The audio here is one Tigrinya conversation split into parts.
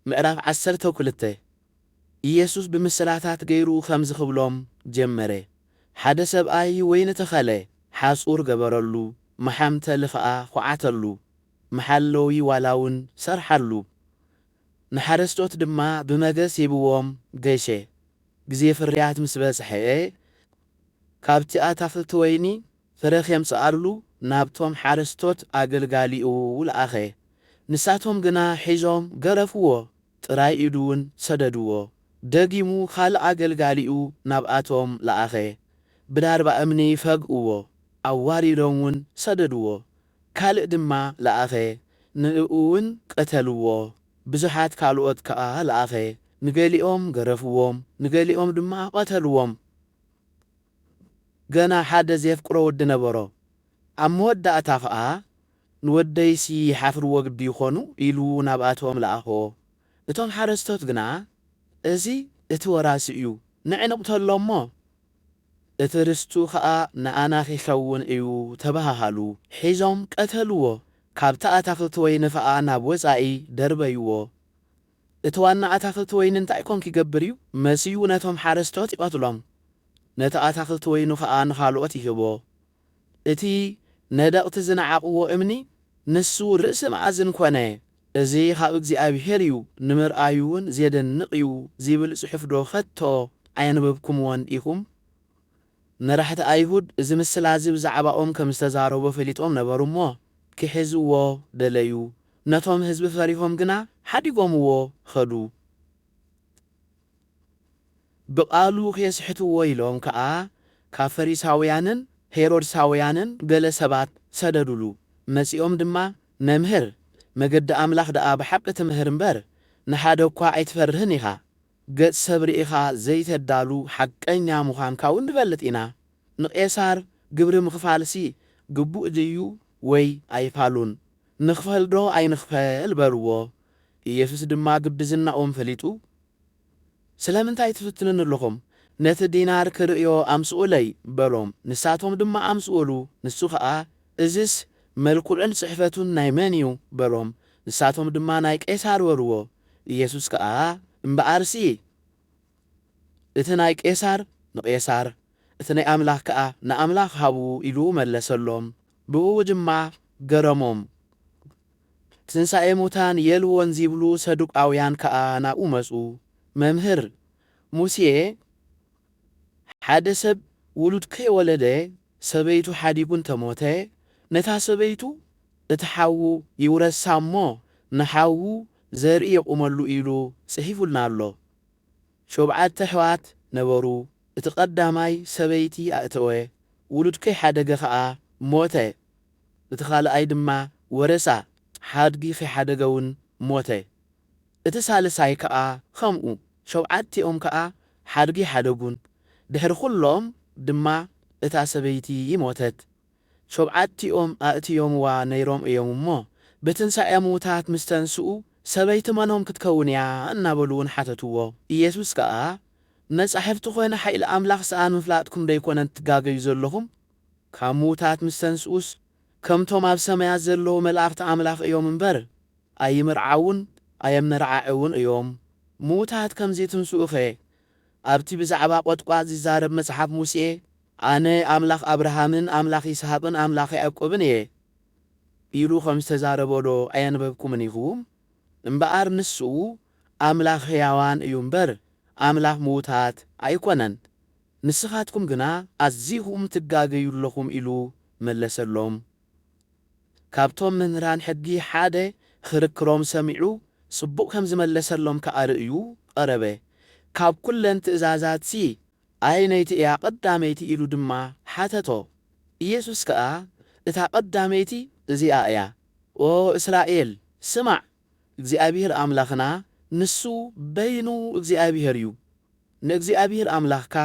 ምዕራፍ ዓሰርተ ክልተ፣ ኢየሱስ ብምስላታት ገይሩ ኸምዚ ኽብሎም ጀመረ፣ ሓደ ሰብኣይ ወይኒ ተኸለ፣ ሓጹር ገበረሉ፣ መሓምተሊ ኸኣ ዅዓተሉ፣ መሓለዊ ዋላውን ሰርሓሉ፣ ንሓረስቶት ድማ ብመገስ ሂብዎም ገሸ። ግዜ ፍርያት ምስ በጽሐ፣ ካብቲ ኣታኽልቲ ወይኒ ፍረ ኼምጽኣሉ ናብቶም ሓረስቶት ኣገልጋሊኡ ለኣኸ። ንሳቶም ግና ሒዞም ገረፍዎ፣ ጥራይ ኢዱውን ሰደድዎ። ደጊሙ ኻልእ ኣገልጋሊኡ ናብኣቶም ለኣኸ፣ ብላርባ እምኒ ፈግእዎ፣ ኣዋሪዶምውን ሰደድዎ። ካልእ ድማ ለኣኸ፣ ንእኡውን ቀተልዎ። ብዙሓት ካልኦት ከኣ ለኣኸ፣ ንገሊኦም ገረፍዎም፣ ንገሊኦም ድማ ቐተልዎም። ገና ሓደ ዜፍቅሮ ወዲ ነበሮ። ኣብ መወዳእታ ኸኣ፣ ንወደይሲ ይሓፍርዎ ግዲ ይዀኑ፣ ኢሉ ናብ ኣቶም ለኣኾ። እቶም ሓረስቶት ግና፣ እዚ እቲ ወራሲ እዩ፣ ንዕ ንቕተሎ እሞ፣ እቲ ርስቱ ኸኣ ንኣና ኺኸውን እዩ፣ ተበሃሃሉ። ሒዞም ቀተልዎ፣ ካብቲ ኣታኽልቲ ወይኒ ኸኣ ናብ ወጻኢ ደርበይዎ። እቲ ዋና ኣታኽልቲ ወይኒ እንታይ ኮን ኪገብር እዩ? መሲሁ ነቶም ሓረስቶት ይቐትሎም፣ ነቲ ኣታኽልቲ ወይኑ ኸኣ ንኻልኦት ይህቦ። እቲ ነደቕቲ ዝነዓቕዎ እምኒ፣ ንሱ ርእሲ መኣዝን ኰነ። እዚ ኻብ እግዚኣብሄር እዩ፣ ንምርኣዩ እውን ዜደንቕ እዩ ዚብል ጽሑፍዶ ኸቶ ኣየንበብኩምዎን ዲኹም? መራሕቲ ኣይሁድ እዚ ምስላ እዚ ብዛዕባኦም ከም ዝተዛረቦ ፈሊጦም ነበሩ እሞ፣ ኪሕዝዎ ደለዩ። ነቶም ህዝቢ ፈሪሆም ግና ሓዲጎምዎ ኸዱ። ብቓሉ ኼስሕትዎ ኢሎም ከኣ፣ ካብ ፈሪሳውያንን ሄሮድሳውያንን ገለ ሰባት ሰደዱሉ። መጺኦም ድማ፣ መምህር፣ መገዲ ኣምላኽ ደኣ ብሓቂ ትምህር እምበር፣ ንሓደ እኳ ኣይትፈርህን ኢኻ። ገጽ ሰብ ርኢኻ ዘይተዳሉ ሓቀኛ ምዃንካውን ንፈልጥ ኢና። ንቄሳር ግብሪ ምኽፋልሲ ግቡእ ድዩ ወይ ኣይፋሉን? ንኽፈልዶ ኣይንኽፈል? በልዎ። ኢየሱስ ድማ ግብዝናኦም ፈሊጡ ስለምንታይ ትፍትኑኒ ኣሎኹም? ነቲ ዲናር ክርእዮ ኣምጽኡለይ በሎም። ንሳቶም ድማ ኣምጽኡሉ። ንሱ ኸኣ እዝስ መልክዑን ጽሕፈቱን ናይ መን እዩ? በሎም። ንሳቶም ድማ ናይ ቄሳር በልዎ። ኢየሱስ ከኣ እምበኣርሲ እቲ ናይ ቄሳር ንቄሳር፣ እቲ ናይ ኣምላኽ ከኣ ንኣምላኽ ሃቡ ኢሉ መለሰሎም። ብእኡ ድማ ገረሞም። ትንሣኤ ሙታን የልቦን ዚብሉ ሰዱቃውያን ከኣ ናብኡ መጹ። መምህር፣ ሙሴ ሓደ ሰብ ውሉድ ከይወለደ ሰበይቱ ሓዲጉ እንተሞተ፣ ነታ ሰበይቱ እቲ ሓዉ ይውረሳ እሞ ንሓዉ ዘርኢ የቑመሉ ኢሉ ጽሒፉልና ኣሎ። ሾብዓተ ኣሕዋት ነበሩ፣ እቲ ቀዳማይ ሰበይቲ ኣእተወ፣ ውሉድ ከይሓደገ ከኣ ሞተ፣ እቲ ካልኣይ ድማ ወረሳ፣ ሓድጊ ከይሓደገውን ሞተ። እቲ ሳልሳይ ከኣ ከምኡ፣ ሾብዓቲኦም ከኣ ሓድጊ ሓደጉን፣ ድሕሪ ዅሎም ድማ እታ ሰበይቲ ሞተት። ሾብዓቲኦም ኣእትዮምዋ ነይሮም እዮም እሞ፣ ብትንሳኤ ምዉታት ምስ ተንስኡ፣ ሰበይቲ መኖም ክትከውን እያ? እናበሉ ውን ሓተትዎ። ኢየሱስ ከኣ፣ መጻሕፍቲ ዀነ ሓይሊ ኣምላኽ ሰኣን ምፍላጥኩምዶ ኣይኰነን እትጋገዩ ዘሎኹም? ካብ ምዉታት ምስ ተንስኡስ፣ ከምቶም ኣብ ሰማያት ዘለዉ መላእኽቲ ኣምላኽ እዮም እምበር፣ ኣይምርዓዉን ኣየመርዓዕዉን እዮም። ምዉታት ከም ዚትንስኡኸ፣ ኣብቲ ብዛዕባ ቈጥቋጥ ዚዛረብ መጽሓፍ ሙሴ፣ ኣነ ኣምላኽ ኣብርሃምን ኣምላኽ ይስሃቅን ኣምላኽ ያእቆብን እየ፣ ኢሉ ኸም ዝተዛረቦዶ ኣየንበብኩምን ኢኹም? እምበኣር ንስኡ፣ ኣምላኽ ህያዋን እዩ እምበር፣ ኣምላኽ ምዉታት ኣይኰነን። ንስኻትኩም ግና ኣዚኹም ትጋገዩ ኣለኹም ኢሉ መለሰሎም። ካብቶም መምህራን ሕጊ ሓደ ኽርክሮም ሰሚዑ ጽቡቕ ከም ዝመለሰሎም ከኣ ርእዩ ቐረበ። ካብ ኵለን ትእዛዛትሲ ኣየነይቲ እያ ቐዳመይቲ? ኢሉ ድማ ሓተቶ። ኢየሱስ ከኣ እታ ቐዳመይቲ እዚኣ እያ፣ ኦ እስራኤል፣ ስማዕ፣ እግዚኣብሄር ኣምላኽና ንሱ በይኑ እግዚኣብሄር እዩ። ንእግዚኣብሄር ኣምላኽካ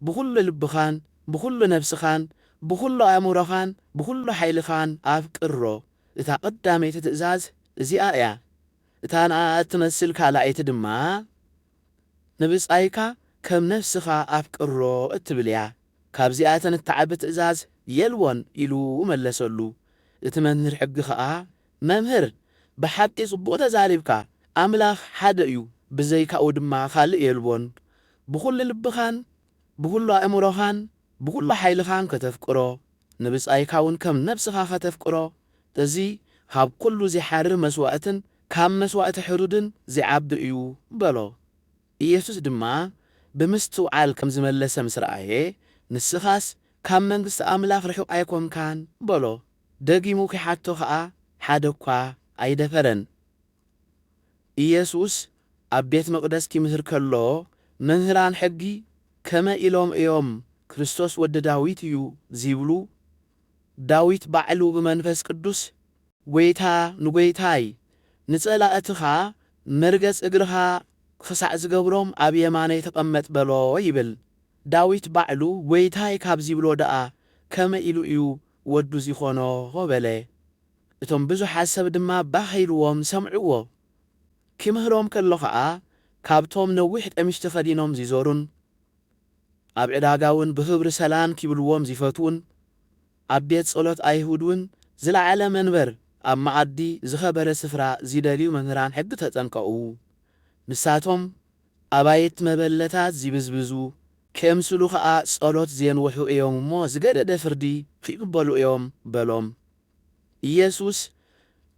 ብዅሉ ልብኻን ብዅሉ ነፍስኻን ብዅሉ ኣእምሮኻን ብዅሉ ሓይልኻን ኣፍቅሮ። እታ ቐዳመይቲ ትእዛዝ እዚኣ እያ፣ እታ ንኣ እትመስል ካልኣይቲ ድማ፣ ንብጻይካ ከም ነፍስኻ ኣፍቅሮ እትብል እያ። ካብዚኣተን እትዓቢ ትእዛዝ የልቦን ኢሉ መለሰሉ። እቲ መምህር ሕጊ ኸኣ መምህር ብሓቂ ጽቡቅ ተዛሪብካ ኣምላኽ ሓደ እዩ ብዘይካኡ ድማ ካልእ የልቦን ብኹሉ ልብኻን ብኹሉ ኣእምሮኻን ብኹሉ ሓይልኻን ከተፍቅሮ ንብጻይካ ውን ከም ነብስኻ ከተፍቅሮ እዚ ካብ ኩሉ ዚሓርር መስዋእትን ካብ መስዋእቲ ሕሩድን ዚዓቢ እዩ በሎ ኢየሱስ ድማ ብምስትውዓል ከም ዝመለሰ ምስ ረኣየ ንስኻስ ካብ መንግስቲ ኣምላኽ ርሑቅ ኣይኮንካን በሎ ደጊሙ ኺሓቶ ኸኣ ሓደ እኳ ኣይደፈረን። ኢየሱስ ኣብ ቤት መቕደስ ኪምህር ከሎ፣ መምህራን ሕጊ ከመይ ኢሎም እዮም ክርስቶስ ወዲ ዳዊት እዩ ዚብሉ? ዳዊት ባዕሉ ብመንፈስ ቅዱስ፣ ጐይታ ንጐይታይ፣ ንጸላእትኻ መርገጽ እግርኻ ኽሳዕ ዝገብሮም ኣብ የማነይ ተቐመጥ በሎ ይብል። ዳዊት ባዕሉ ጐይታይ ካብ ዚብሎ ደኣ ከመይ ኢሉ እዩ ወዱ ዚኾኖ በለ። እቶም ብዙሓት ሰብ ድማ ባህ ኢልዎም ሰምዕዎ። ኪምህሮም ከሎ ኸኣ፣ ካብቶም ነዊሕ ቀሚሽ ተኸዲኖም ዚዞሩን ኣብ ዕዳጋውን ብኽብሪ ሰላም ኪብልዎም ዚፈትዉን፣ ኣብ ቤት ጸሎት ኣይሁድውን ዝለዓለ መንበር፣ ኣብ መኣዲ ዝኸበረ ስፍራ ዚደልዩ መምህራን ሕጊ ተጠንቀቑ። ንሳቶም፣ ኣባይት መበለታት ዚብዝብዙ ኬምስሉ ኸኣ ጸሎት ዜንውሑ እዮም እሞ፣ ዝገደደ ፍርዲ ኺቕበሉ እዮም በሎም። ኢየሱስ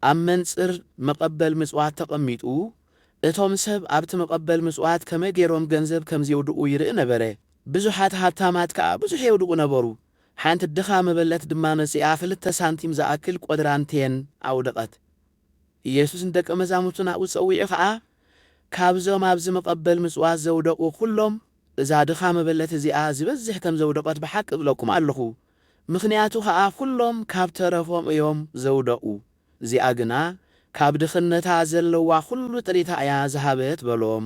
ኣብ መንጽር መቐበል ምጽዋት ተቐሚጡ፣ እቶም ሰብ ኣብቲ መቐበል ምጽዋት ከመይ ገይሮም ገንዘብ ከም ዜውድቑ ይርኢ ነበረ። ብዙሓት ሃብታማት ከኣ ብዙሕ የውድቑ ነበሩ። ሓንቲ ድኻ መበለት ድማ መጺኣ ኽልተ ሳንቲም ዝኣክል ቈድራን ቴን ኣውደቐት። ኢየሱስ ንደቀ መዛሙርቱ ናብኡ ጸዊዑ ኸኣ፣ ካብዞም ኣብዚ መቐበል ምጽዋት ዘውደቑ ዅሎም፣ እዛ ድኻ መበለት እዚኣ ዚበዝሕ ከም ዘውደቐት ብሓቂ እብለኩም ኣሎኹ። ምኽንያቱ ኸኣ ዅሎም ካብ ተረፎም እዮም ዘውደቑ፣ እዚኣ ግና ካብ ድኽነታ ዘለዋ ዅሉ ጥሪታ እያ ዝሃበት በሎም።